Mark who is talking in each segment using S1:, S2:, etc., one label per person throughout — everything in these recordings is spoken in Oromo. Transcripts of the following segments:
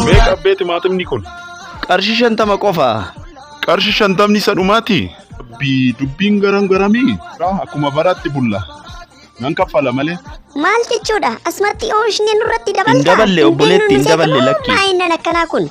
S1: Meeqa abbee timaatimni kun? Qarshii shantama
S2: qofa. Qarshi
S1: shantamni isa dhumaati? Abbii dubbiin garam garamii? Raa akkuma baraatti bulla. Nan kaffala malee. Maal jechuudha?
S3: Asumatti oomishni nurratti dabalta? Hin daballe, obboleetti,
S2: hin daballe, lakki. Maayinnan akkanaa kun.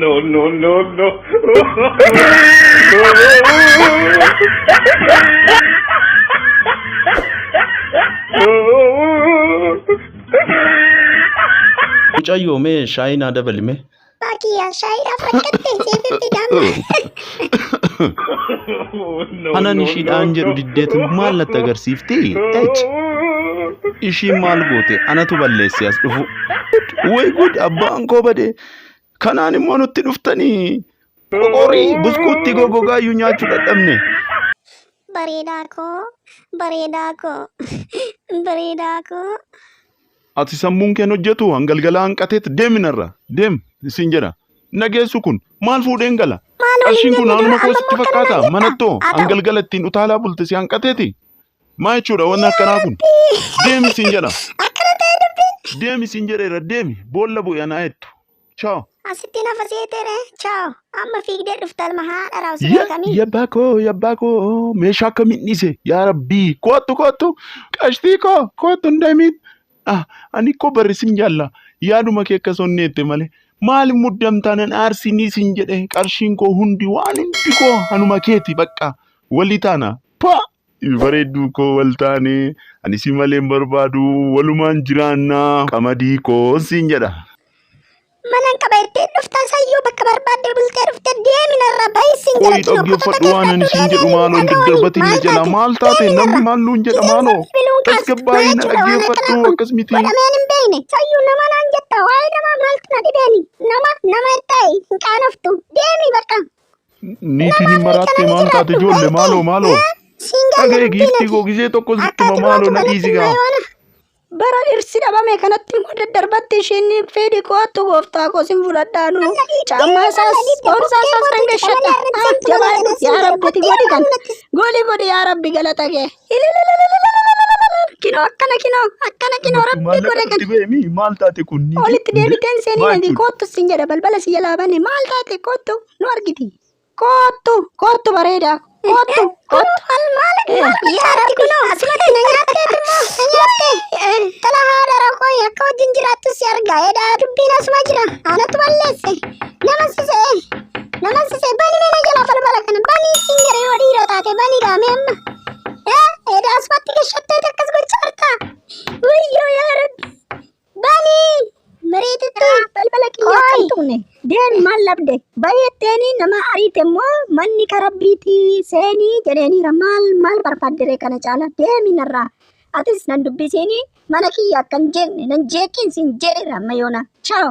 S1: no, no, no, no.
S2: Mucayyoo mee shaayinaa dabalime. Abbaa kiyya shaayiidhaaf
S3: rakkatte siifin
S2: fidaan. Anan ishiidhaan jedhu diddeetu maal natti agarsiifti? H. Ishiin maal goote? Anatu balleesse as dhufu. Way good abbaan koo bade. Kanaan immoo nutti dhuftanii. Qoqorii buskuutti gogogaa iyyuu nyaachuu dadhabne. Bareedaa koo, bareedaa
S3: koo, bareedaa koo. Ati
S1: sammuun keen hojjetu hangalgalaa hanqateet deemi narra deem siin jedha. Nageessu kun maal fuudheen gala? Qarshiin kun anuma koo sitti fakkaata manattoo hangalgala ittiin utaalaa bulte si hanqateeti. Maa jechuudha wanni akkanaa kun? Deemi siin jedha. Deemi siin jedheera deemi boolla bu'e anaa jettu. Ciao. Asitti nafa
S3: seetere. Ciao. Amma fiigdee dhufta ilma haadha raawwatu Ya, beekamii. ya bako, ya bako.
S1: Meeshaa akkamiin dhiise? Yaa Rabbii. Kootu, kootu. Qashtii koo. Kootu hin deemin. Ah, ani koo barri sin jaalla. Yaaduma kee akka sonneette malee. Maaliif muddamtaa nan aarsinii sin jedhe qarshiin koo hundi waan hundi koo hanuma keeti bakka. Walii taana. Pa! bareedduu koo wal taane ani si malee hin barbaadu walumaan jiraannaa qamadii koo siin jedha. Manan
S3: qaba jettee dhuftaan sayyoo bakka barbaadde bultee dhufte deemi narraa bahi siin Qoyi jedha kinoo kotota dhaggeeffadhu waan ani
S1: siin jedhu maaloo hin daddarbatiin na jala maal taate namni maal nuun jedha maaloo tasgabbaa'ii na dhaggeeffadhu akkas miti. godhameen hin beekne
S3: sayyuu nama naan jetta waa'ee namaa maaltu na dhibeeni nama nama ittaa'e hin qaanoftu deemi bakka Niitiin
S1: hin maraattee maal taate ijoollee maaloo maaloo. Dhaga'e giiftii koo gizee tokko sittuma maaloo na dhiisi gaa. Bara
S4: dhirsi dhabame kanatti immoo daddarbatti isheen fedhi koottu gooftaa koo sin fudhadhaanu. Caammaa isaas boorsaa isaas nan gashadha. Maaf jabaadhu yaa rabbi ati godhi kan. Gooli godhi yaa rabbi galata kee. Ilalalalalalalalalalala. Kinoo akkana kinoo akkana kinoo rabbii Maallaqa godha itti kan. beemi maal taate kun
S1: niitii? Olitti Hundee? deebiteen seenii
S4: Maal nadi jechuudha? koottu siin jedha balbala si jalaa bane maal taate koottu nu argiti. Koottu koottu bareedaa koottu koottu. Al maal
S3: yaa rabbi kunoo asumatti na nyaattee immoo na nyaattee. Tala haadha rakkoo akka wajjin jiraattu si argaa edaa dubbiin asuma jira anatu balleesse nama sisee. Namalsise bani mena jala falbala kana bani singere yoo dhiira taate bani gaame amma. Eh eeda asfatti gashattee takkas gocha harta. Wayyoo yaa rabbi. Bani mareetitti balbala kiyyaa
S4: kan tuune. Deen maal labde? Bayeetteeni nama ariite immoo manni ka rabbiiti seenii jedheeniira maal maal barbaaddere kana caala deemi narraa. Atis nan dubbisiini mana kiyya akkan jeeqne nan jeeqiin sin jedheera amma yoona. Chaaw.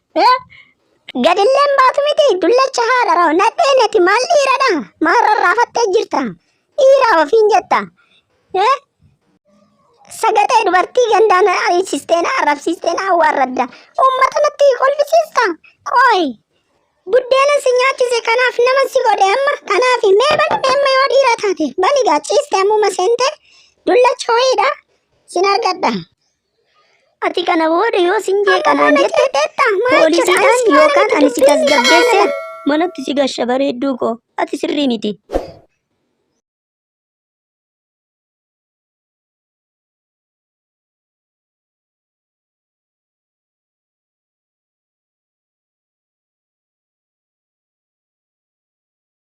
S3: Gadilleen baatu miti dullacha haadha raw nadhee nati maal dhiiradha maal rarraafattee jirta dhiiraa ofiin jetta sagaxee dubartii gandaan ariisisteen arrabsiisteen awwaarradda uummata natti kolfisiista qooy buddeena si nyaachise kanaaf nama si godhe amma kanaaf mee bani meemma yoo dhiira taate bani gaachiiste ammuma seente dullacha ho'iidha sin argadha. Ati kana booda yoo sin jee kanaan jette poolisiidhaan yookaan ani si tasgabbeesse manatti si gasha bareedduu koo ati sirrii miti.